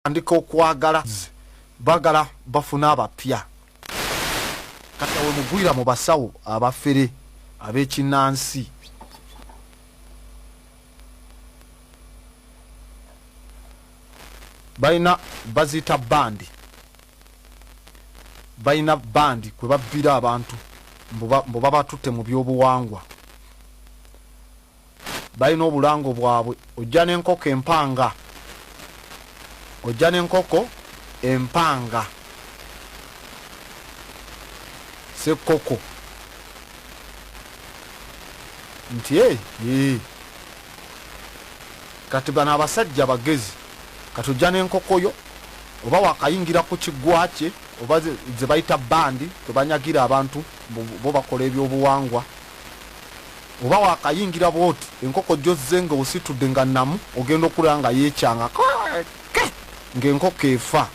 andika okwagala bagala bafuna abapya kati awe mugwira mu basawo abafere abekinansi balina baziyita bandi balina bandi kwe babbira abantu mbu babatutte mu byobuwangwa balina obulango bwabwe ojja nenkoko empanga ojja nenkoko empanga sekoko nti e eh, ee eh. kati bano abasajja bagezi kati ojja nenkoko yo oba wakayingira ku kigwa kye oba zebayita bandi tebanyagira abantu bo bakola ebyobuwangwa Oba wakayingira bwoti enkoko jozze nga ositudde nga namu ogenda okulaba nga yekyanga kweeke nga enkoko efa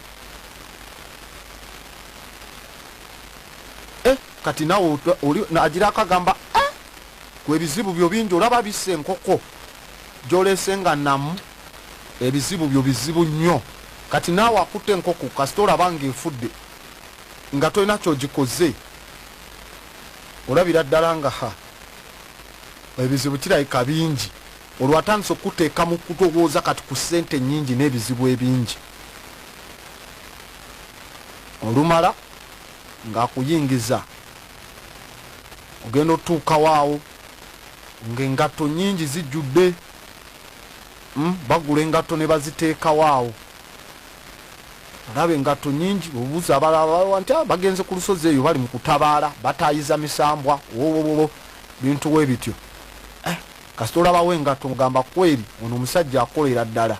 eh kati nawe oli agira akagamba eh gwe ebizibu byo bingi olaba bisse enkoko jolese nga namu ebizibu byo bizibu nnyo kati naawe akutte enkoko kasita olaba nga efudde nga tolina kyogikoze olabira ddala nga ha ebizibu kirabika bingi olwo atandise okukuteeka mu kutowooza kati ku ssente ennyingi n'ebizibu ebingi olumala ng'akuyingiza ogenda otuukawo awo ng'engatto nnyingi zijjudde hmm, bagula engatto ne baziteekawo awo Olaba engatto nnyingi, obubuze abalala balawa nti ah, bagenze ku lusozi eyo bali mu kutabaala, bataayiza misambwa, wowowowo bintu we bityo. Eh, kasita olabawo engatto mugamba kweri ono omusajja akolera ddala.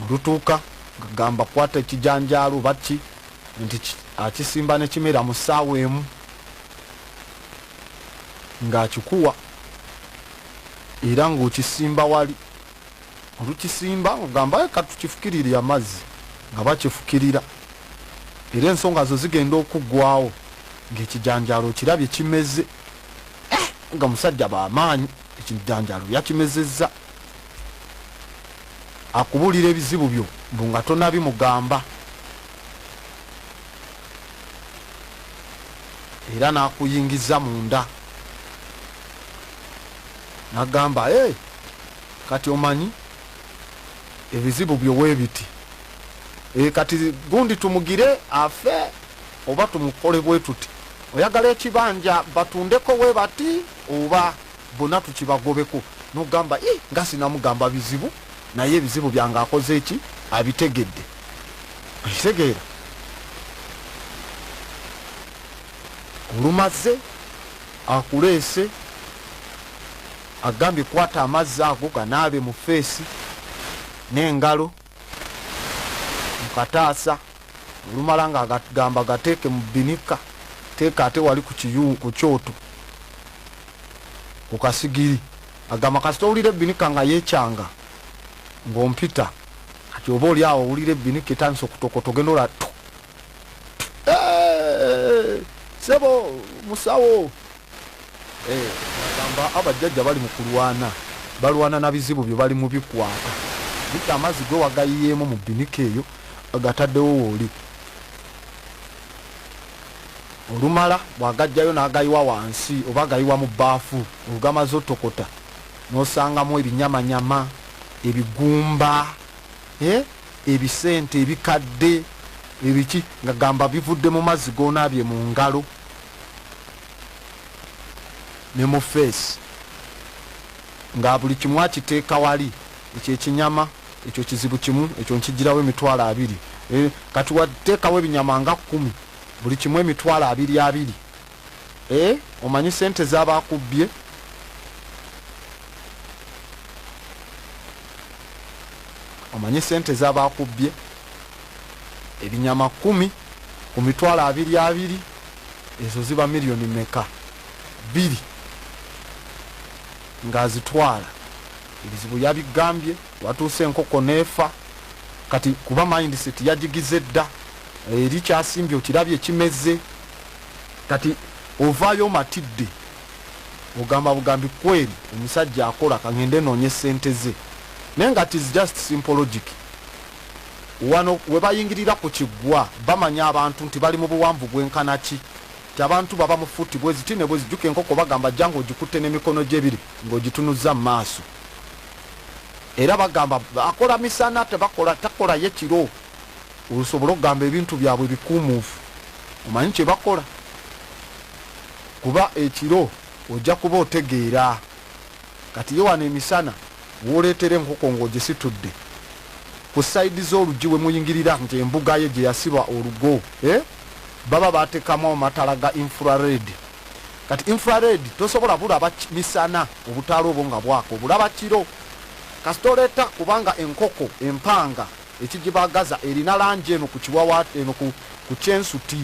Olutuuka ngagamba kwata ekijanjaalo baki nti akisimba ne kimera mu ssaawa emu ng'akikuwa era ng'okisimba wali olukisimba ogamba katukifukirire amazzi nga bakifukirira era ensonga zo zigenda okuggwawo ng'ekijanjaalo okirabye kimeze eh, nga musajja bamaanyi ekijanjaalo yakimezezza akubuulira ebizibu byo mbu nga tonabimugamba era n'akuyingiza munda nagamba eeh kati omanyi ebizibu byo webiti eeh kati gundi tumugire afe oba tumukole bwetuti oyagala ekibanja batundeko webati oba bona tukibagobeko nogamba ih nga sinamugamba bizibu naye ebizibu byange akoze eki abitegedde okitegeera olumaze Akuleese agambye kwata amazzi ago ganaabe mu feesi n'engalo mu kataasa olumala nga agamba gateeke mu binika teeka ate wali ku kyoto ku kasigiri agamba kasita owulira ebinika nga yekyanga ng'ompita kati oba oli awo owulira ebinika etandisa okutokoto genda olatu Eh, sebo musawo eh, agamba abajjajja bali mu kulwana balwana na bizibu bye bali mu bikwata biki amazzi gwe wagayiyeemu mu binika eyo agataddewo wooli olumala bwagajjayo n'agayiwa wansi oba agayiwa mu baafu olugamaze otokota n'osangamu ebinyamanyama ebigumba eh, ebisente ebikadde ebiki nga gamba bivudde mu mazzi gonaabye mu ngalo ne mu feesi nga buli kimu akiteeka wali ekyo ekinyama ekyo kizibu kimu ekyo nkijirawo emitwalo abiri eh, kati wateekawo ebinyama nga kkumi buli kimu emitwalo abiri abiri eh omanyi sente zabakubbye omanyi sente zabakubbye ebinyama kumi ku mitwalo abiri abiri ezo ziba miliyoni meka bbiri ng'azitwala ebizibu yabigambye watuuse enkoko neefa kati kuba mindset yagigize dda eri kyasimbye okirabye ekimeze Kati ovaayo omatidde ogamba bugambi kweri omusajja akola kangende noonye sente ze naye nga tis just simple logic wano webayingirira ku kiggwa bamanya abantu nti bali mu buwanvu bwenkana ki ti abantu baba mu futi bweziti ne bwezijuka enkoko bagamba jja ngaogikutte n'emikono gyebiri ng'ogitunuzza mu maaso era bagamba akola misana tebakola takolayo kiro osobole okugamba ebintu byabwe bikuumuufu omanyi kyebakola kuba ekiro ojja kuba otegeera kati ye wano emisana woleetera enkoko ng'ogisitudde ku sayidi z'oluggi we muyingirira nti embuga ye gye yasiba olugo eh? baba baatekamu amatala ga infrared kati infrared tosobola bulaba misana obutaala obwo nga bwaka obulaba kiro kasita oleeta kubanga enkoko empanga ekigibagaza erina langi eno ku kiwawa eno ku ku kyensuti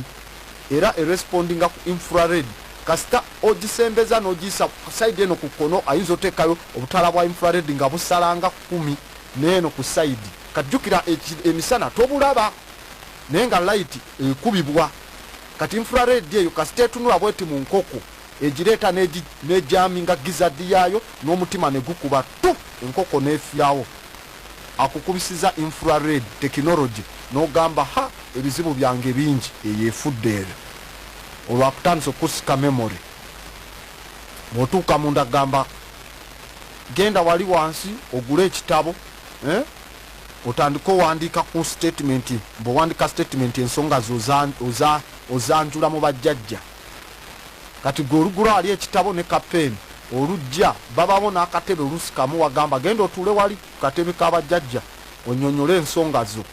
era erespondinga ku infrared kasita ogisembeza n'ogiyisa ku side eno ku kkono ayinza oteekayo obutaala bwa infrared nga busalanga kumi neeno ku side kati jjukira emisana tobulaba naye nga light ekubibwa kati infrared eyo kasita etunula bweti mu nkoko egireeta n'egyami nga gizadi yaayo n'omutima ne gukuba tu enkoko n'efirawo akukubisiza infra red technology nogamba ha ebizibu byange bingi. Eyo efudde eyo olwakutandise okukusika memory bwotuuka munda gamba genda wali wansi ogule ekitabo eh? otandika owandiika ku statement bwewandika statement ensonga zo ozanjula mu bajjajja Kati gwe oligula ali ekitabo ne ka pen olujja babawo nakatebe olusi kamu wagamba genda otuule wali ku katebe ka bajjajja onyonyole ensonga zo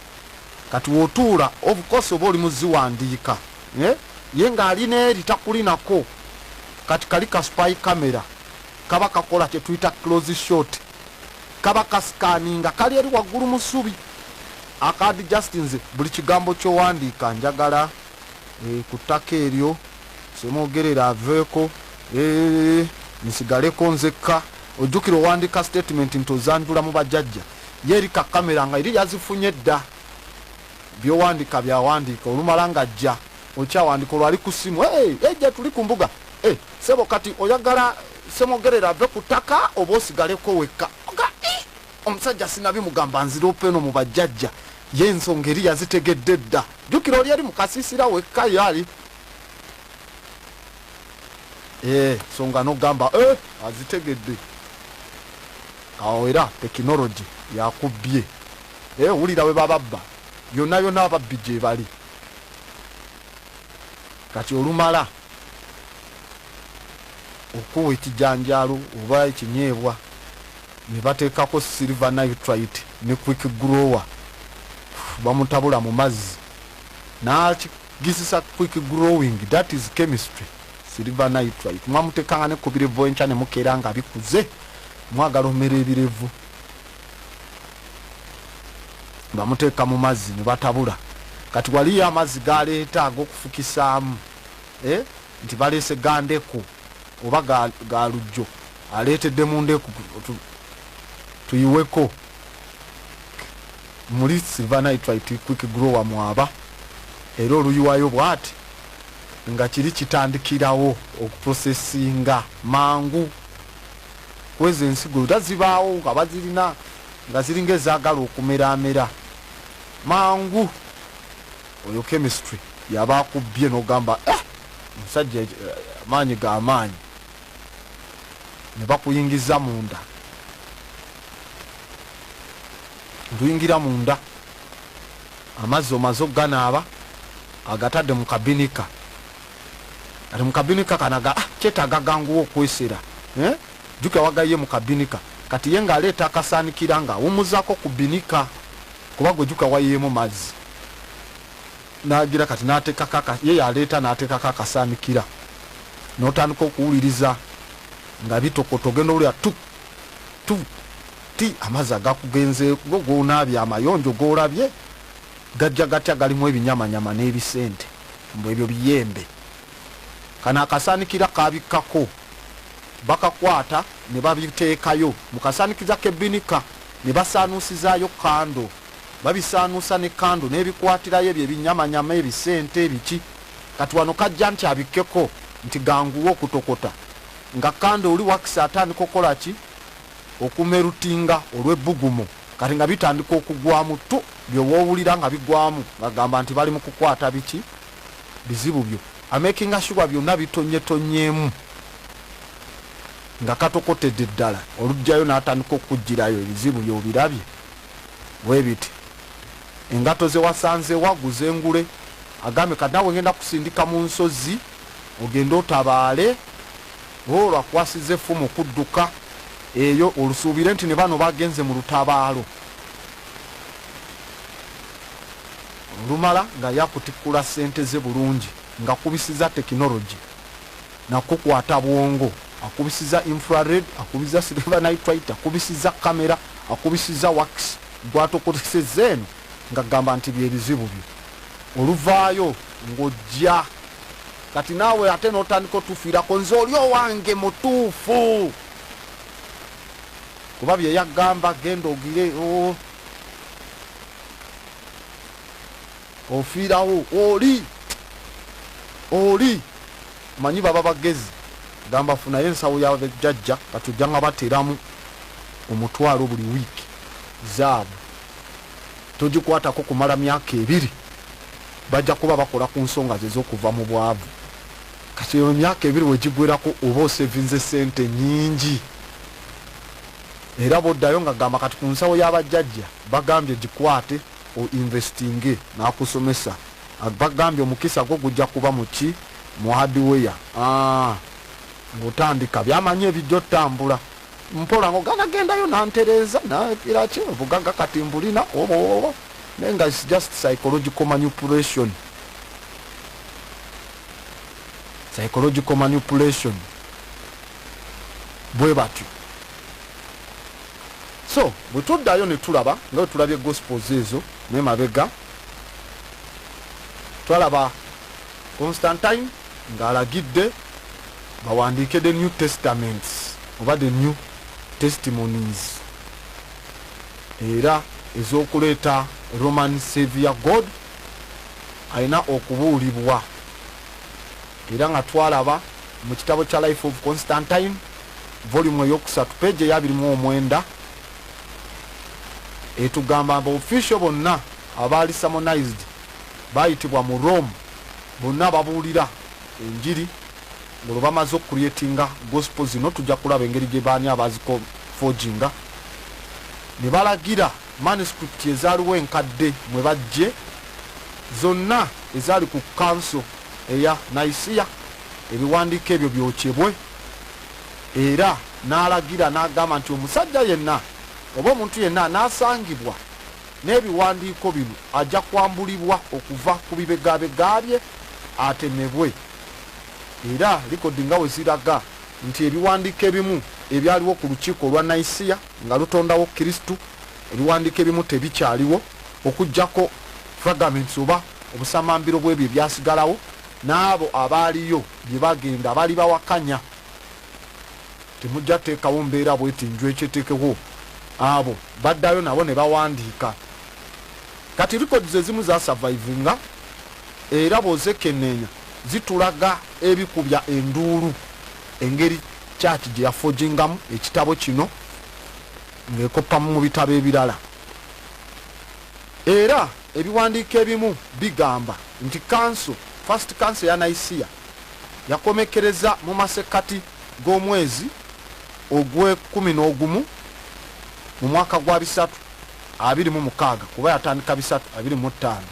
kati wotuula of course oba oli muziwandiika eh? ye nga ali neeri takulinako kati kali ka spy camera kaba kakola kyetuyita close shot kaba kasikaninga kali eri waggulu musubi akadi just nze buli kigambo kyowandiika njagala eh, ku ttaka eryo semwogerera aveeko eh, nsigaleko nzekka ojjukira owandika statement nti ozanjula mu bajajja ye eri ka kamera nga eri yazifunye dda byowandika byawandiika olumala nga jja okyawandika olwali ku simu eja tuli ku mbuga eh, sebo kati oyagala semwogerera ave ku ttaka oba osigaleko wekka omusajja sinabimugamba nzira openo mu bajajja Ye ensonga eri yazitegedde dda. Jjukira oli eri mu kasiisira wekka ye ali ee eh, songa nogamba e eh, azitegedde awo era tekinologi yakubbye e eh, wulira we bababba yonna yonna ababbi gye bali kati olumala okuwa ekijanjaalo oba ekinyeebwa ne bateekako Silver Nitrite ne Quick Grower bamutabula mu mazzi n'akigisisa Quick Growing that is chemistry Silver Nitrite mwamuteekanga ne ku birevu enkya ne mukeera nga bikuze mwagala omera ebirevu bamuteeka mu mazzi ne batabula kati waliyo amazzi galeeta ag'okufukisaamu eh, nti baleese gandeku oba ga, ga lujjo aleetedde mu ndeku tuyiweko muli silvanitrit quick grower mwaba era oluyiwayo bwati nga kiri kitandikirawo okuprosesinga mangu kwezo ensigo era zibaawo nga bazirina nga ziringa ezaagala okumeramera mangu Oyo chemistry yaba akubbye nogamba eh omusajja eh, amaanyi ga amaanyi ne bakuyingiza munda nduyingira munda amazzi omaze okuganaaba agatadde mu kabinika ati mu kabinika kanaga ah, kyetaaga ganguwa okwesera eh? jukira wagaye mu kabinika kati ye ng'aleeta akasaanikira ng'awumuzako ku binika Kuba gwe juka wayiyemu mazzi nagira kati natekako aka ye yaleeta natekako akasanikira notandika okuwuliriza nga bitokoto ogenda owulira tu tu ti amazzi agakugenze go gonaabye amayonjo golabye gajja gatya galimu ebinyamanyama n'ebisente mbu ebyo biyembe kano akasanikira kabikkako bakakwata ne babiteekayo mu kasaanikiza k'ebbinika ne basaanuusizaayo kkando. Babisaanuusa ne kkando n'ebikwatirayo ebyo ebinyamanyama, ebisente, biki. Kati wano k'ajja nti abikkeko nti ganguwa okutokota nga kkando oli wakisi atandika okukola ki? Okumerutinga olw'ebbugumu. Kati nga bitandika okugwamu ttu, bye w'owulira nga bigwamu ng'agamba nti bali mu kukwata biki? bizibu byo amakinga sure byona bitonye tonyemu nga katokotedde ddala olujjayo natandika okujjirayo ebizibu byobirabye webiti engato zewasanze waguze ngule agambe kati nawe ngenda kusindika mu nsozi ogende otabaale olwo akwasiza effumu okudduka eyo olusuubire nti ne bano bagenze mu lutabaalo olumala nga yakutikkula ssente ze bulungi ngakubisiza technology nakukwata bwongo akubisiza infrared akubiza silver nitrite akubisiza camera akubisiza wax gwatokoteseza eno ngagamba nti byebizibu byo oluvaayo ngojja kati naawe ate notandika otufiirako nze oli owange mutuufu kuba byeyagamba genda ogire oh. ofiirawo oli oli manyi baba bagezi gamba funayo ensawo ya jajja kati ojja nga bateramu omutwalo buli wiiki zaabu togikwatako kumala myaka ebiri bajja kuba bakola ku nsonga ze z'okuva mu bwavu kati eyo myaka ebiri wegigwerako oba osevinze sente nyingi Era bwoddayo nga gamba kati ku nsawo ya bajjajja bagambye gikwate o investinge nakusomesa bagambye omukisa gwo gujja kuba mu ki mu hardware aah ngotandika byamanyi ebijja otambula mpola ngo gana gendayo nantereeza nagira ki obugaga kati mbulina obobobo naye nga is just psychological manipulation psychological manipulation bwe batyo so bwe tuddayo ne tulaba nga bwe tulabye gospels ezo ne mabega twalaba constantine ng'alagidde bawandiike the new testaments oba the new testimonies era ez'okuleeta roman savior god alina okubuulibwa Era nga twalaba mu kitabo kya Life of Constantine volume eyokusatu peegi eya abiri mu omwenda etugamba mbu official bonna abaali samonized bayitibwa mu Rome bonna babuulira enjiri ngolwo bamaze okucreatinga gospel zino tujja kulaba engeri gye baani abaziko forginga ne balagira manuscript ezaaliwo enkadde mwe bajje zonna ezaali ku Kkanso eya Nicaea, ebiwandiiko ebyo byokyebwe, era n'alagira n'agamba nti omusajja yenna oba omuntu yenna anaasangibwa n'ebiwandiiko bino ajja kwambulibwa okuva ku bibegabega bye atemebwe. Era likodi nga we ziraga nti ebiwandiiko ebimu ebyaliwo ku lukiiko olwa Nicaea nga lutondawo Kristo Ebiwandiiko ebimu tebikyaliwo okuggyako fragments oba obusamambiro bw'ebyo ebyasigalawo, n'abo abaaliyo bye bagenda balibawakanya. Temujja kuteekawo mbeera bw'eti njwecu eteekewo abo baddayo nabo ne bawandiika. Kati records ezimu zaasavayivinga era bw'ozekenneenya zitulaga ebikubya enduulu engeri Church gye yafogingamu ekitabo kino. ng'ekoppa mu bitabo ebirala. Era ebiwandiiko ebimu bigamba nti kanso, First Council eya Nicaea, yakomekkereza mu masekkati g'omwezi ogw'ekkumi n'ogumu mu mwaka gwa bisatu abiri mu mukaaga, kuba yatandika bisatu abiri mu ttaano.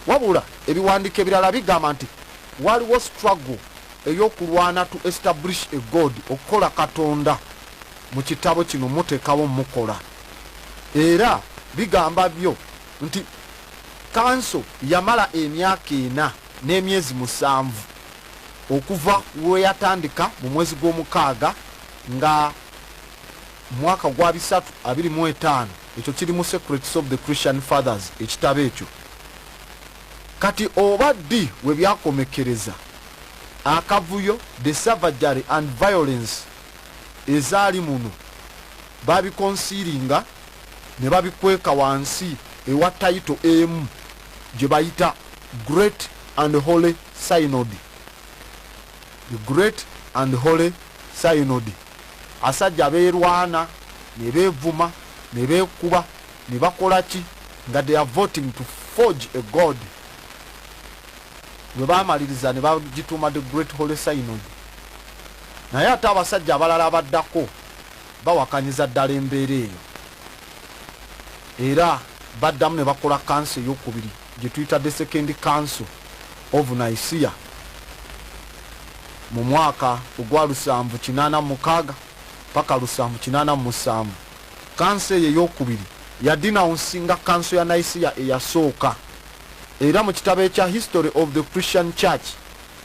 Wabula ebiwandiiko ebirala bigamba nti waliwo struggle ey'okulwana to establish a God, okukola Katonda. Mu kitabo kino mutekawo mukola era bigamba byo nti kanso yamala emyaka ena n'emyezi musanvu okuva lweyatandika mu mwezi gw'omukaaga nga mwaka gwa bisatu abiri mu etaano ekyo kiri mu secrets of the christian fathers ekitabo ekyo kati oba ddi webyakomekereza akavuyo the savagery and violence ezaali muno baabikonsiiringa ne babikweka wansi ewa tayito emu gye bayita Great and Holy Synod. The Great and Holy Synod. Asajja beerwana ne beevuma ne beekuba ne bakola ki nga they are voting to forge a god bwe baamaliriza ne bagituuma the Great Holy Synod. Naye ate abasajja abalala abaddako bawakanyiza ddala embeera eyo era baddamu ne bakola kanso ey'okubiri gye tuyita The Second Council of Nicaea mu mwaka ogwa lusanvu kinaana mu mukaaga paka lusanvu kinaana mu musanvu. Kanso eyo ey'okubiri yadinawunsinga kanso ya Nicaea eyasooka era mu kitabo ekya History of the Christian Church,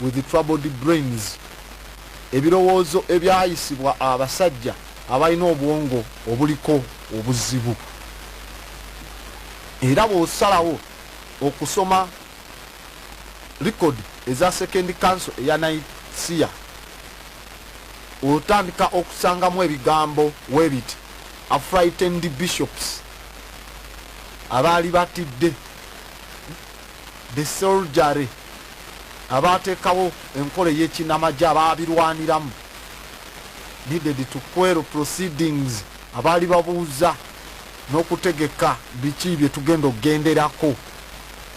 with troubled brains, ebirowoozo ebyayisibwa abasajja abalina obwongo obuliko obuzibu. Era bw'osalawo okusoma likodi eza Second Council eya Nicaea, otandika okusangamu ebigambo we biti, A frightened bishops, abaali batidde, the soldiery, abaatekawo enkola ey'ekinamagye abaabirwaniramu needed to query proceedings abaali babuuza n'okutegeka biki bye tugenda okugenderako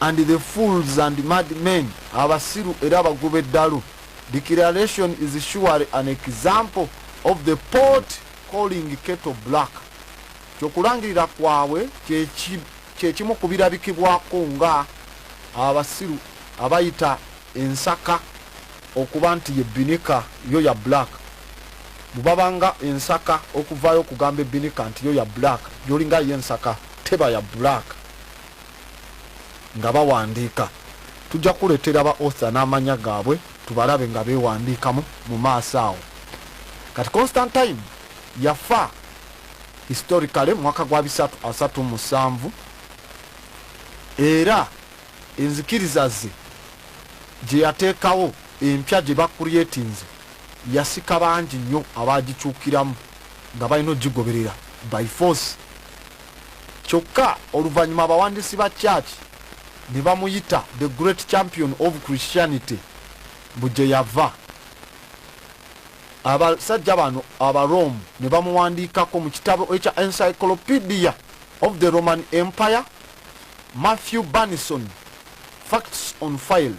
and the fools and mad men abasiru era abagoba eddalu declaration is surely an example of the port calling keto black kyokulangirira kwabwe kye kimu ku birabikibwako nga abasiru abayita ensaka okuba nti ye bbinika yo ya black bwe baba nga ensaka okuvaayo okugamba ebbinika nti yo ya black gyolinga ye ensaka teba ya black nga bawandiika tujja kuleetera ba author n'amanya gaabwe tubalabe nga beewandiikamu mu maaso awo kati constantine yafa Historically mu mwaka gwa bisatu asatu mu musanvu era enzikiriza ze gye yateekawo empya gye bakuliyetinze yasika bangi nnyo abaagikyukiramu nga balina okugigoberera by force kyokka oluvannyuma abawandiisi ba kyaki ne bamuyita the great champion of christianity mbu gye yava abasajja bano Abaroomu ne bamuwandiikako mu kitabo ekya Encyclopedia of the Roman Empire, Matthew Burnison, Facts on File,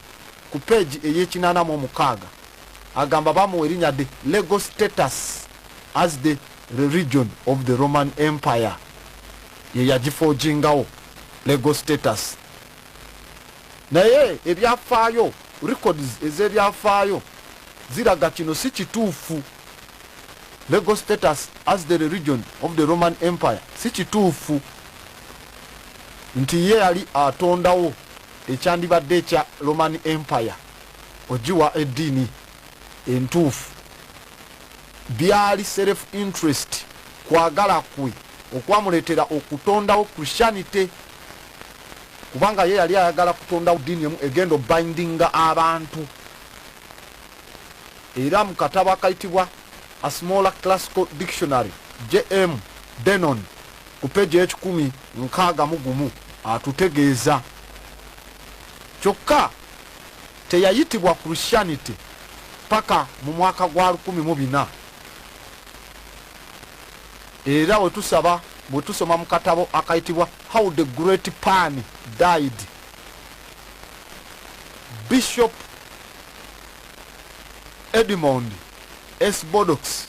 ku peegi ey'ekinaana mu omukaaga, agamba baamuwa erinnya the legal status as the religion of the Roman Empire. Ye yagifoojingawo legal status. naye ebyafaayo records ez'ebyafaayo ziraga kino si kituufu legal status as the religion of the roman empire si kituufu nti ye yali atondawo ekyandibadde ekya roman empire ogiwa eddiini entuufu byali self interest kwagala kwe okwamuleetera okutondawo christianity kubanga ye yali ayagala kutonda ddiini emu egenda obindinga abantu era mu katabo akayitibwa a smaller classical dictionary jm denon ku peji ekikumi nkaaga mu gumu atutegeeza kyokka teyayitibwa christianity paka mu mwaka gwa lukumi mu bina era we tusaba bwe tusoma mu katabo akayitibwa How the Great Pan Died, Bishop Edmond S. Bodox,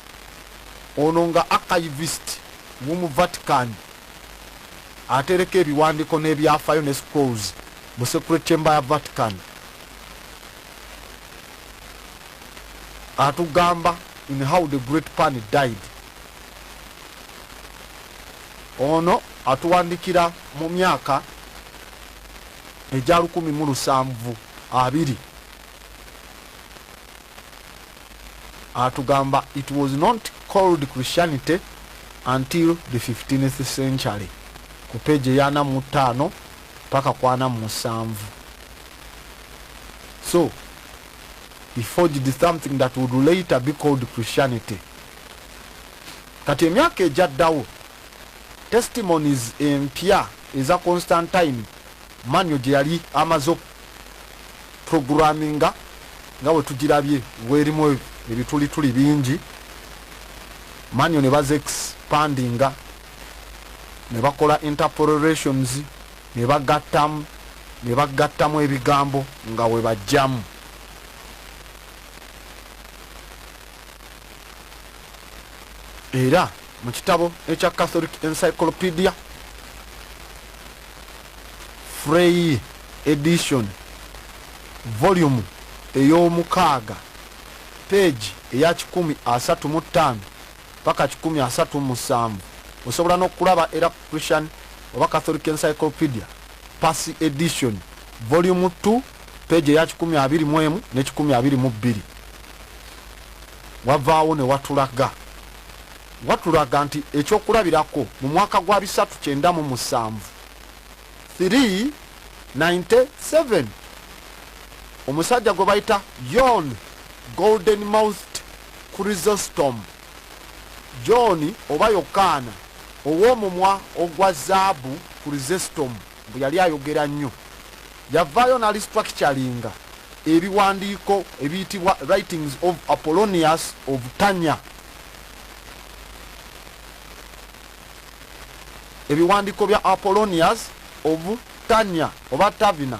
ono nga archivist w'omu Vatican atereka ebiwandiiko n'ebyafaayo ne scrolls mu Secret Chamber ya Vatican. atugamba in how the great pan died ono atuwandikira mu myaka egya lukumi mu lusanvu abiri atugamba it was not called christianity until the 15th century ku peji eyana mu ttaano paka kwana mu musanvu so he forged something that would later be called Christianity kati emyaka ejaddawo testimonies empya eza Constantine manyo gye yali amaze programinga nga bwe tugirabye werimu ebitulituli bingi manyo ne baze expandinga ne bakola interpolations ne bagattamu ne bagattamu ebigambo nga we bajjamu era mu kitabo ekya catholic encyclopedia frey edition volume ey'omukaaga peegi eya kikumi asatu mu ttaano paka kikumi asatu mu musanvu. Osobola n'okulaba era ku Christian oba Catholic Encyclopedia, Passy Edition, Volume Two, peegi eya kikumi abiri mu emu ne kikumi abiri mu bbiri. Wavaawo ne watulaga watulaga nti ekyokulabirako mu mwaka gwa bisatu kyenda mu musanvu 397 omusajja gwe bayita yon golden mouthed Chrysostom, John oba Yokaana ow'omumwa ogwa zaabu, Chrysostom mbu yali ayogera nnyo. Yavaayo n'alistructuringa ebiwandiiko ebiyitibwa Writings of Apollonius of Tanya. Ebiwandiiko bya Apollonius of Tanya oba Tavina.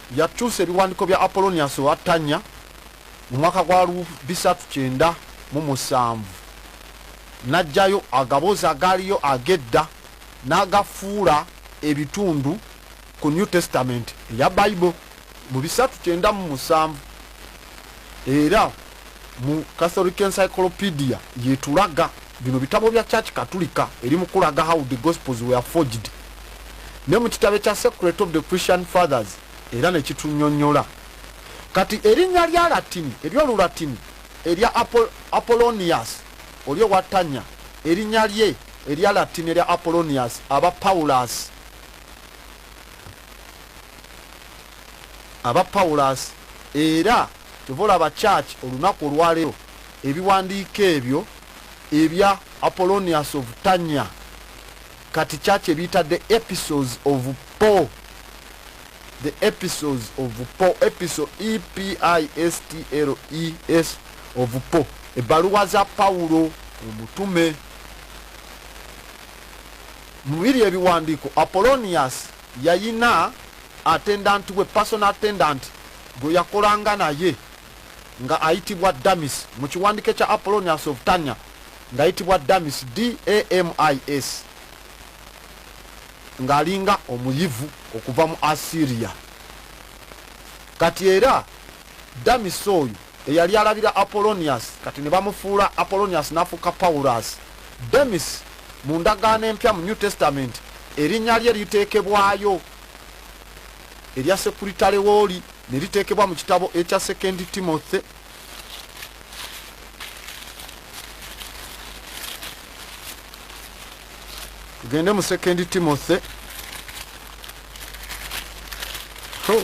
Yakyusa ebiwandiiko bya Apollonius owa Tanya mu mwaka gwa lu bisatu kyenda mu musanvu n'aggyayo agaboozi agaaliyo ag'edda n'agafuula ebitundu ku New Testament eya Bible mu bisatu kyenda mu musanvu era mu catholic encyclopedia yetulaga bino bitabo bya church katulika eri mukulaga how the gospels were forged ne mu kitabo ekya secret of the christian fathers era nekitunyonyola kati erinnya lya latini eryolulatini erya apollonius oli owatanya erinnya lye erya latini erya apollonius aba paulus aba paulus era Kyova olaba church olunaku olwalero ebiwandiiko ebyo ebya Apollonius of Tanya kati church ebiyita the episodes of Paul the episodes of Paul episode e p i s t l e s of Paul ebbaluwa za Paulo omutume mubiri ebiwandiiko Apollonius Yalina attendant we, personal attendant, gwe yakolanga naye nga ayitibwa Damis, mu kiwandike kya Apollonius of Tanya nga ayitibwa Damis, D-A-M-I-S, nga alinga omuyivu okuva mu Assyria. Kati era Damis oyo Eyali alabira Apollonius kati ne bamufuula Apollonius n'afuuka Paulus. Demis, mu ndagaano empya mu New Testament, erinnya lye liteekebwayo erya sekuritale w'oli ne liteekebwa mu kitabo ekya Second Timothy tugende mu second timothy oh.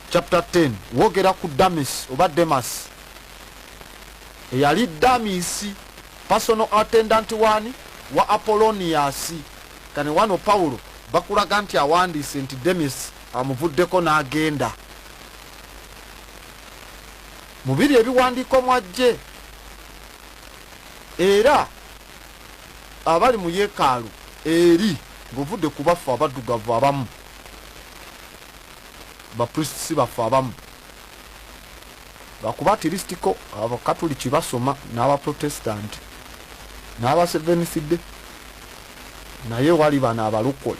Chapter 10 wogera ku Damis oba Demas eyali Damisi personal attendant wani wa Apollonius kane wano Paulo bakulaga nti awandiise nti Demis amuvuddeko n'agenda mubiri ebiwandiiko mwajje era abali mu yeekaalu eri ng'ovudde ku baffe abaddugavu abamu ba priests baffe abamu lwakuba atirisitiko abakatuliki basoma n'aba protestant n'aba seveniside naye wali bano abalokole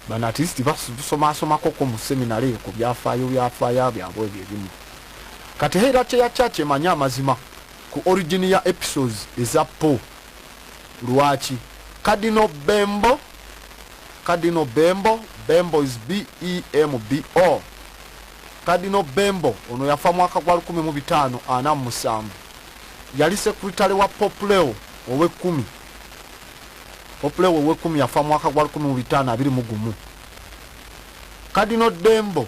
bano atirisiti basomasomakoko mu seminary eyo ku byafaayo byafaayo byabwe ebyo ebimu kati heera kyeya kyaki emanyi amazima ku origini ya episodes eza po Lwaki? Cardinal Bembo Cardinal Bembo Bembo is BEMBO Cardinal Bembo ono yafa mwaka gwa lukumi mu bitaano ana mu musanvu. Yali sekuritale wa Pope Leo ow'ekkumi. Pope Leo ow'ekkumi yafa mwaka gwa lukumi mu bitaano abiri mu gumu. Cardinal Dembo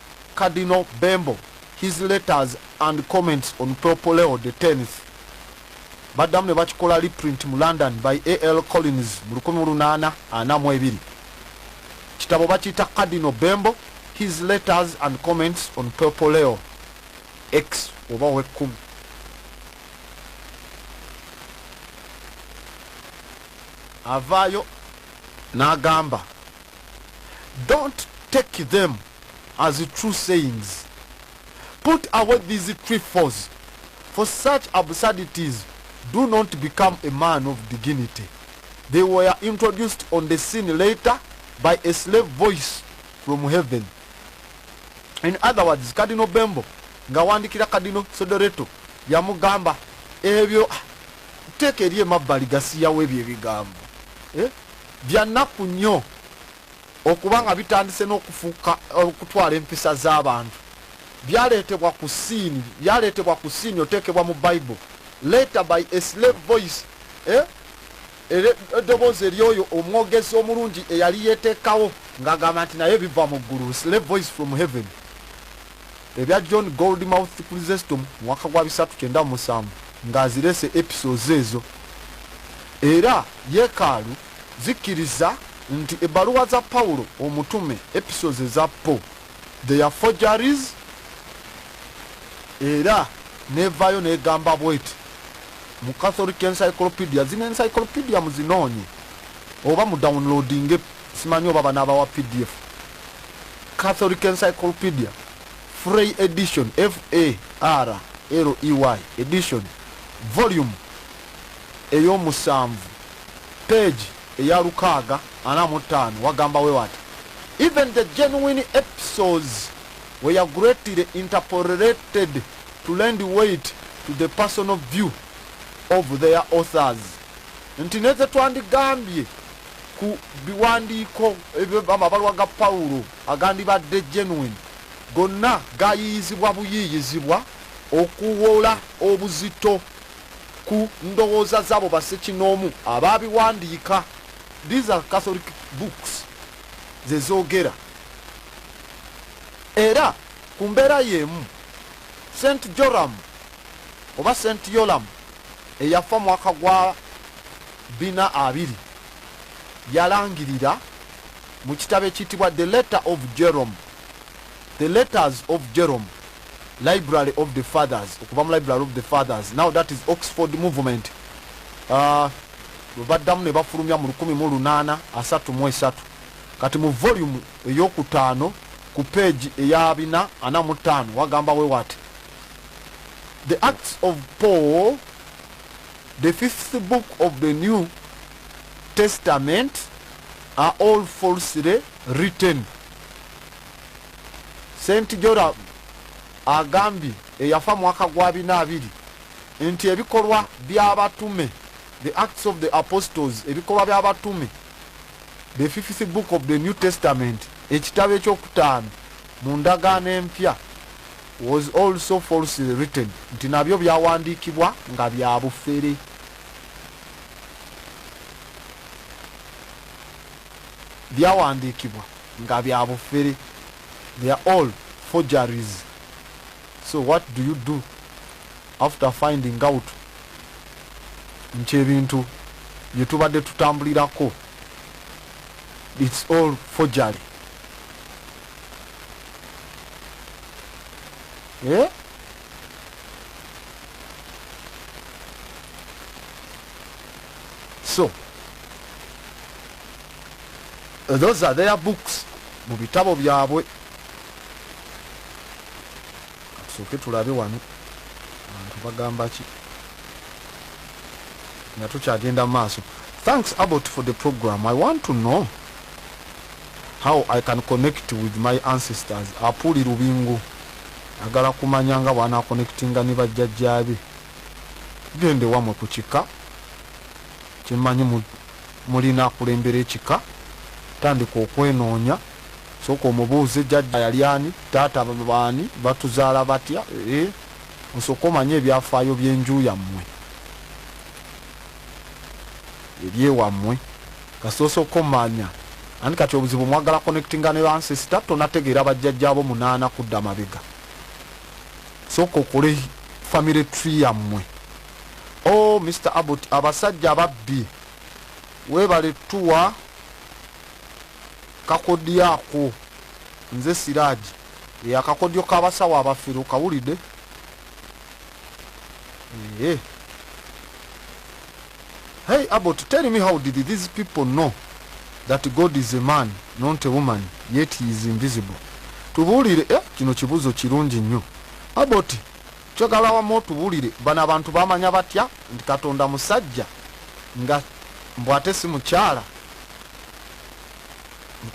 Cardinal Bembo his letters and comments on Pope Leo the tenth baddamu ne bakikola reprint mu London by AL Collins mu lukumi mu lunaana ana mu ebiri. Kitabo bakiyita Cardinal Bembo his letters and comments on Pope Leo X oba ow'ekkumi. Avaayo n'agamba. don't take them as true sayings put away these trifles for such absurdities do not become a man of dignity they were introduced on the scene later by a slave voice from heaven in other words kadino bembo nga wandikira kadino sodoreto yamugamba ebyo ah, teeka eri emabbali gasiyawo ebyo ebigambo eh? Bya nnaku nnyo okuba nga bitandise n'okufuuka okutwala empisa z'abantu. Byaleetebwa ku ssiini, byaleetebwa ku ssiini oteekebwa mu Bible, later by a slave voice, eh, ere- eddoboozi ery'oyo omwogezi omulungi eyali yeeteekawo ng'agamba nti naye biva mu ggulu, slave voice from heaven. Ebya John Gold Mouth Chrysestom mwaka gwa bisatu kyenda musanvu nga azirese episodes ezo era yekaalu zikkiriza nti ebbaluwa za Pawulo omutume episodes eza po they are forgeries era nevayo negamba bweti mu Catholic Encyclopedia zino encyclopedia muzinoonye oba mu downloadinge Simanyi oba banabawa pdf. Catholic Encyclopedia Frey Edition F-A-R-L-E-Y Edition Volume eyomusanvu page eya lukaaga ana mu ttaano wagamba we wati Even the genuine episodes were greatly interpolated to lend weight to the personal view of their authors nti nezetwandigambye ku biwandiiko amabaluwa ga Pawulo agandibadde genuine gonna gayiiyizibwa buyiiyizibwa okuwola obuzito ku ndowooza z'abo bassekinoomu abaabiwandiika. These are Catholic books ze zoogera. Era ku mbeera y'emu St Joram oba St Yolam eyafa mwaka gwa Bina abiri yalangirira mu kitabo ekiyitibwa The Letter of Jerome, The Letters of Jerome, Library of the Fathers, okuva mu Library of the Fathers, now that is Oxford Movement, uh, baddamu ne bafulumya mu lukumi mu lunaana asatu mu esatu kati mu volume eyokutaano ku peegi eya bina ana mu ttaano wagamba we wati the acts of paul The fifth book of the new testament are all falsely written sent joram agambye eyafa mwaka gwa bina abiri nti ebikolwa by'abatume the acts of the apostles ebikolwa by'abatume the fifth book of the new testament ekitabo ekyokutaano Mu ndagaano empya was also falsely written nti nabyo byawandiikibwa nga bya bufere. Byawandiikibwa nga bya bufere. They are all forgeries. So what do you do after finding out nti ebintu bye tubadde tutambulirako it's all forgery eh? so those are their books mu bitabo byabwe Katusooke tulabe wano abantu bagambaki nga tukyagenda maaso. Thanks Abbot for the program. I want to know how I can connect with my ancestors. Apuli Lubingo agala kumanya nga bwana connectinga ne bajjajjaabe. Gende wamwe ku kika kyemanyi mulina akulembera ekika tandika okwenoonya. Sooka omubuuze jajja yali ani, taata baani, batuzaala batya eeh osooke omanye ebyafaayo byenju yammwe ebyewammwe kasita osooka omanya anti kati obuzibu mwagala connectinga ne ba sister tonategeera bajjajja bo munaana kudda mabega sooka okole family tree yammwe o oh, Mr Abut abasajja ababbi webale tuwa Kakodyo ako nze siraji e akakodyo kabasawo abafero kawulide ee hey abot tell me how did these people know that god is a man not a woman yet he is invisible tubuulire eh, kino kibuzo kirungi nnyo abot kyogala wamu otubuulire bano abantu bamanya batya nti katonda musajja nga mbwate si mukyala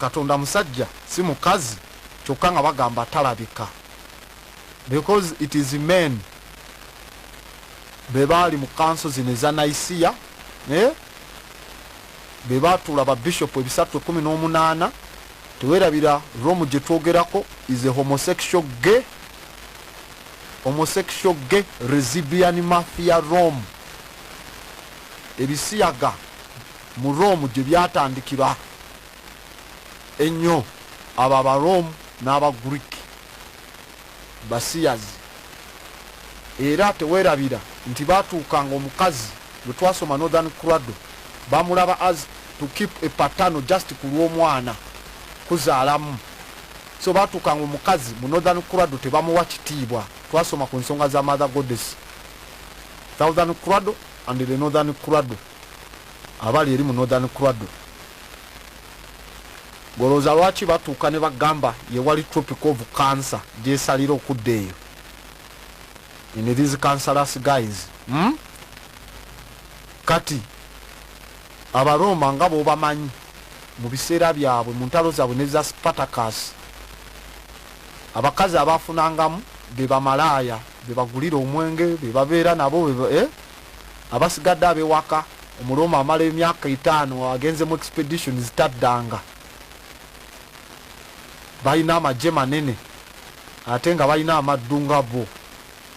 Katonda musajja si mukazi kyokka nga bagamba talabika because it is men bebaali mu kanso zino eza naisiya naye eh? bebatuula ba bishop ebisatu ekumi n'omunaana tewerabira romu gye twogerako is a homosexual gay homosexual gay resibian mafia rome ebisiyaga Mu Rome gye byatandikira ennyo, abo Abarome n'Abagriiki basiyazi, era tewerabira nti baatuukanga omukazi gwe twasoma Northern Cradle bamulaba as to keep a paternal just ku lw'omwana kuzaalamu. So baatuukanga omukazi mu Northern Cradle tebamuwa kitiibwa. Twasoma ku nsonga za Mother Goddess, Southern Cradle and the Northern Cradle. abali eri mu Northern Cradle. Gwe olowooza lwaki batuuka ne bagamba ye wali tropic of cancer gyesalira okudda eyo? In these cancerous guys. Hmm? Kati Abaroma nga bwobamanyi mu biseera byabwe mu ntalo zaabwe ne za Spartacus abakazi abaafunangamu be bamalaaya be bagulira omwenge be babeera nabo eh? abasigadde abewaka omuloma amala emyaka etaano agenze mu expeditions taddanga balina amagye manene ate nga balina amaddu nga bo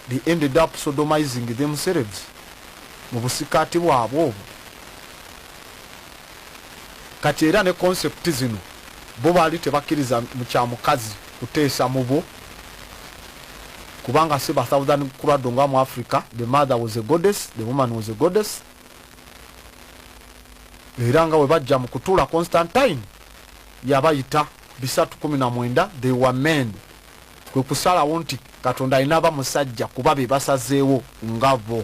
they ended up sodomizing themselves mu busikaati bwabwe obwo kati era ne concept zino bo baali tebakkiriza mu kya mukazi kuteesa mubo kubanga si ba southern kurado nga mu africa the mother was a goddess the woman was a goddess era nga webajja mu kutula constantine yabayita bisatu kumi na mwenda they were men kwe kusalawo nti katonda alina aba musajja kuba be basazeewo ngabo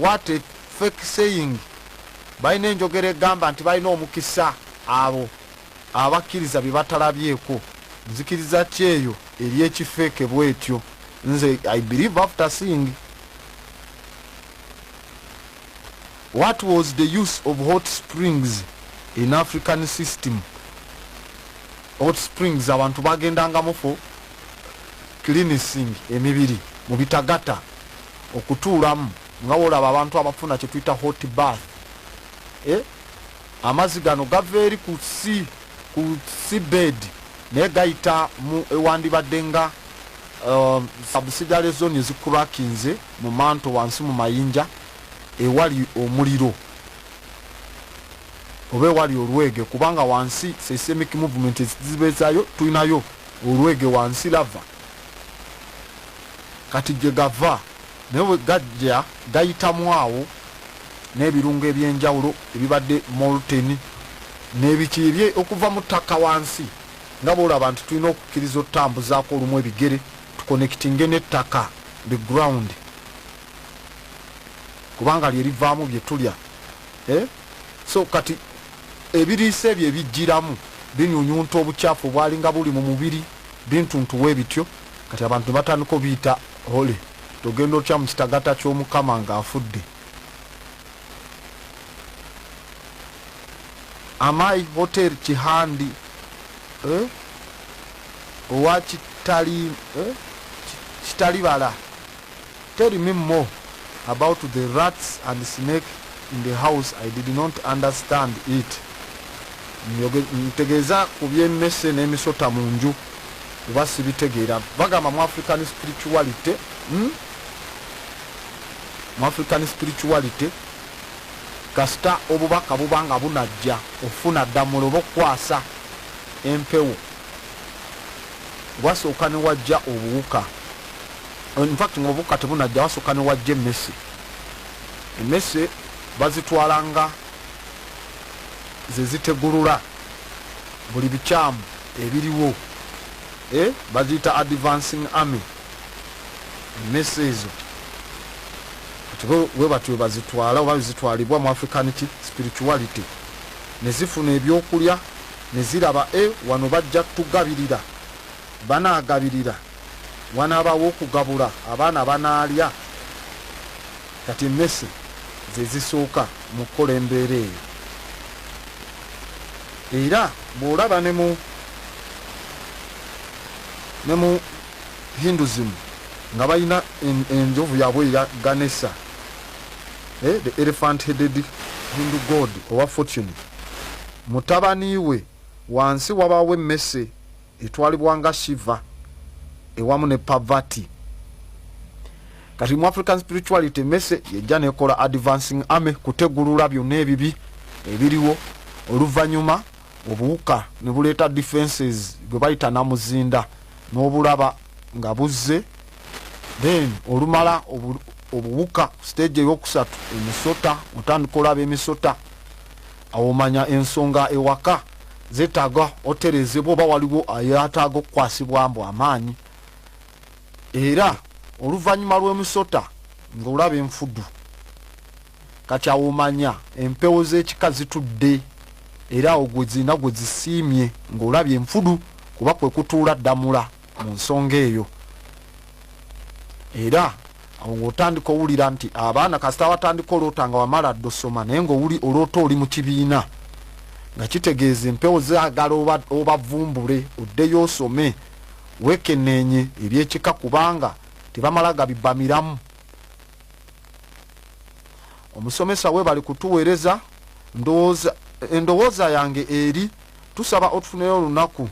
what a fake saying balina enjogera egamba nti balina omukisa abo abakkiriza bye batalabyeko nzikiriza ki eyo eri ekifeeke bwetyo nze i believe after seeing what was the use of hot springs in african system hot springs abantu bagendangamu fo cleanising emibiri mu bitagata okutuulamu nga wolaba abantu abafuna kyetuyita hot bath eh? amazi gano gava eri ku si ku seabed naye gayita mu ewandibadde nga uh, um, sabusidiary zone ezikurakinze mu manto wansi mu mayinja ewali omuliro oba ewali olwege kubanga wansi seisemic movement ezibezayo tulinayo olwege wansi lava kati gye gava naye bwe gajja gayitamu awo n'ebirungo eby'enjawulo ebibadde molten n'ebiki ebye okuva mu ttaka wansi nga bw'olaba nti tulina okukkiriza otutambuzaako olumu ebigere tukonekitinge n'ettaka the ground kubanga lye livaamu bye tulya eh? so kati ebiriisa ebyo ebijjiramu binyunyunta obucaafu obwalinga buli mu mubiri bintuntuwa ebityo kati abantu nebatandika obiyita hole togenda otya mu kitagata ky'omukama ng'afudde amai hotel kihandi eh? owa kitali eh? kitalibala Tell me more about the rats and snake in the house I did not understand it ntegeeza ku by'emmese n'emisota mu nju kuba sibitegeera bagamba mu African spirituality hmm? mu African spirituality kasita obubaka buba nga bunajja ofuna ddamula oba okukwasa empewo wasooka ne wajja obuwuka infact nga obukka tebunajja wasukka ne wajja emmese emmese bazitwala nga zezitegulula buli bikyamu ebiriwo eh, baziyita advancing army emmese ezo webatyo webazitwala oba zitwalibwa mu african ki spirituality nezifuna ebyokulya neziraba e wano bajja tugabirira banagabirira Wanaabaawo okugabula abaana abanaalya? Kati emmese ze zisooka mu kukola embeera eyo. Era bw'olaba ne mu ne mu Hinduism nga balina enjovu yaabwe eya Ganesha, eh, the elephant headed Hindu god owa fortune, mutabani we wansi wabaawo emmese. etwalibwa nga shiva ewamu ne pavati kati mu african spirituality mese yejja nekola advancing army kutegulula byonna ebibi ebiriwo oluvanyuma obuwuka ne buleeta defenses gwe bayita namuzinda n'obulaba nga buzze then olumala obuwuka stage eyokusatu emisota otandika olaba emisota Awo omanya ensonga ewaka zetaga oterezebwa oba waliwo ayataga okukwasibwa mbu amaanyi era oluvanyuma lwemusota nga olaba enfudu kati awo omanya empewo zekika zitudde era awo gwezirina gwezisiimye nga olabye enfudu kuba kwekutuula ddamula mu nsonga eyo era awo ng'otandika owulira nti abaana kasita watandika oloota nga wamala dda osoma naye ngaowuli oloota oli mu kibiina nga kitegeeza empewo zagala obavumbule oddeyo osome wekeneenye ebyekika kubanga tebamala gabibamiramu omusomesa we bali kutuweereza endowooza yange eri tusaba otufuneyo olunaku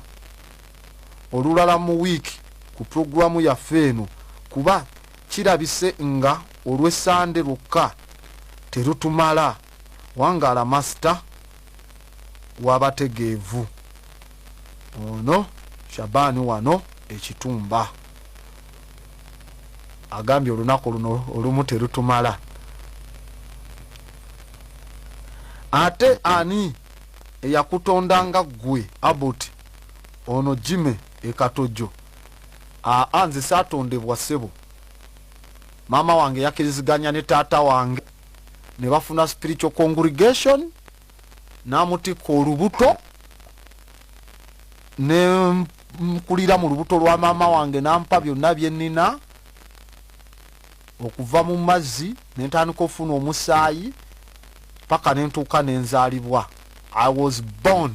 olulala mu wiiki ku pulogulaamu yaffe eno kuba kirabise nga olwe Sande lwokka terutumala. Wangaala Master w'abategeevu. Ono Shaban wano ekitumba agambye olunaku luno olumu terutumala. Ate ani eyakutonda nga ggwe Aboti? Ono Jimmy e Katojo. Aa nze saatondebwa ssebo. Maama wange yakiriziganya ne taata wange ne bafuna spiritual congregation n'amutikka olubuto ne nkulira mu lubuto lwa maama wange n'ampa byonna bye nnina okuva mu mazzi ne ntandika ofuna omusaayi paka ne ntuuka ne nzaalibwa i was born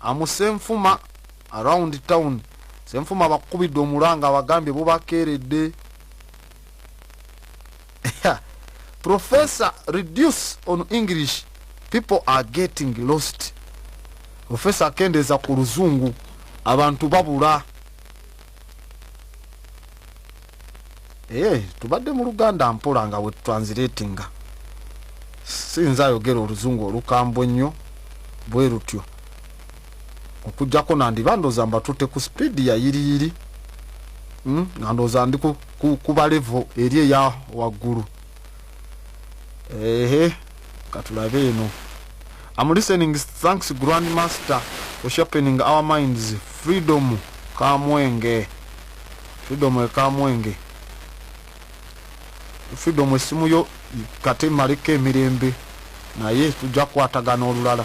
amusenfuma around town senfuma bakukubidde omulanga abagambye bubakeeredde professor reduce on english people are getting lost professor akendeeza ku luzungu abantu babula ee eh, tubadde mu luganda mpola nga wetutransilatinga sinza ayogera oluzungu olukambwe nnyo bwe lutyo okujjako nandiba ndooza mbatutte ku sipiidi yayiriyiri hmm? nga ndooza ndi kubalevo eri eya waggulu ehe katulabe eno am listening thanks grand master for sharpening our minds freedom kamwenge freedom ekamwenge freedom esimu yo kate maleko emirembe naye tujja kukwatagana olulala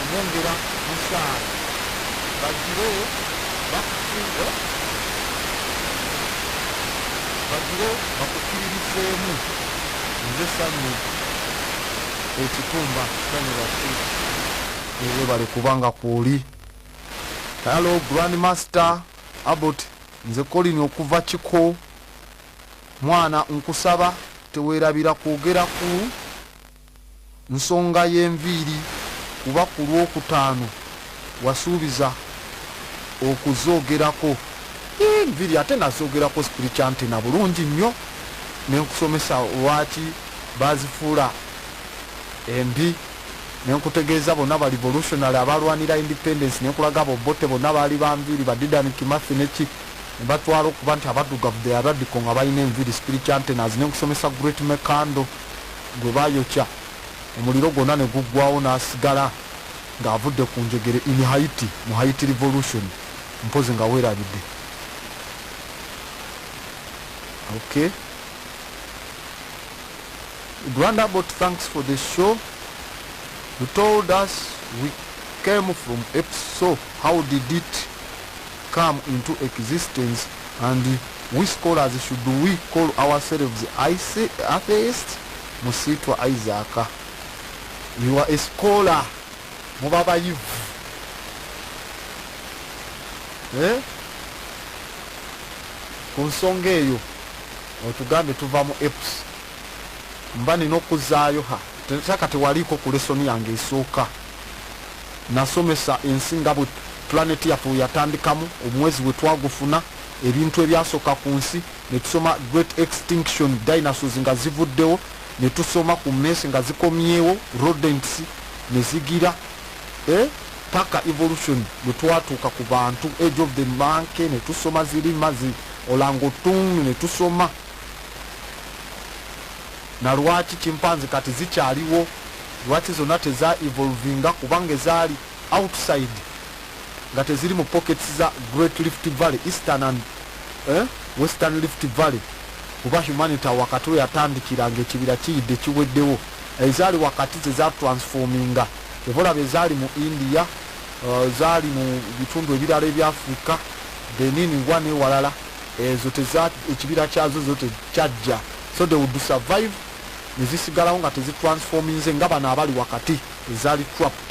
Omwongera musaala bagire bakufuuwe bagire bakukkiririzeemu nze sanyu ekitumba sanyu lwaki webale kubanga kwoli hello grand master abot nze kolini okuva kiko mwana nkusaba tewerabira kwogera ku nsonga y'enviiri kuba ku Lwokutaano wasuubiza okuzoogerako. Yii enviiri ate nazoogerako Spiricantina bulungi nnyo ne nkusomesa lwaki baazifuula embi ne nkutegeeza bonna ba Revolutionary abaalwanira Independence ne nkulaga abo Obote bonna baali ba nviiri ba Dedan Kimathi ne ki ne batwala okuba nti Abaddugavu they are radical nga balina enviiri Spiricantinas ne nkusomesa Great Mekando gwe baayokya omuliro gwonna ne guggwaawo n'asigala ng'avudde ku njegere in Haiti mu Haiti Revolution mpozzi nga weerabidde okay Granda bot thanks for the show you told us we came from episode how did it come into existence and We scholars should we call ourselves atheist musiitwa Isaac you are a scholar muba bayivu eh? ku nsonga eyo otugambe tuva mu eps mba nina okuzaayo ha taka tewaliiko ku lesoni yange esooka nasomesa ensi nga bwe planeti yaffe weyatandikamu omwezi wetwagufuna ebintu ebyasooka ku nsi ne tusoma great extinction dinosaurs nga zivuddewo ne tusoma ku mess nga zikomyewo rodents ne zigira eh, paka evolution bwe twatuuka ku bantu age of the monkey ne tusoma zirima zi olangotung ne tusoma na lwaki kimpanzi kati zikyaliwo lwaki zonna teza evolvinga kubanga ezaali outside nga teziri mu pockets za Great Rift Valley, Eastern and eh, Western Rift Valley kuba humanita wakati weyatandikira nga ekibira kiyidde kiweddewo ezaali wakati zezatransforminga evolaba ezaali mu india uh, zaali mu bitundu ebirala ebyafrika benini wa newalala ezo ekibira kyazo zo tekyajja so the would survive nezisigalawo nga tezitransforminze nga bano abali wakati ezaali trapped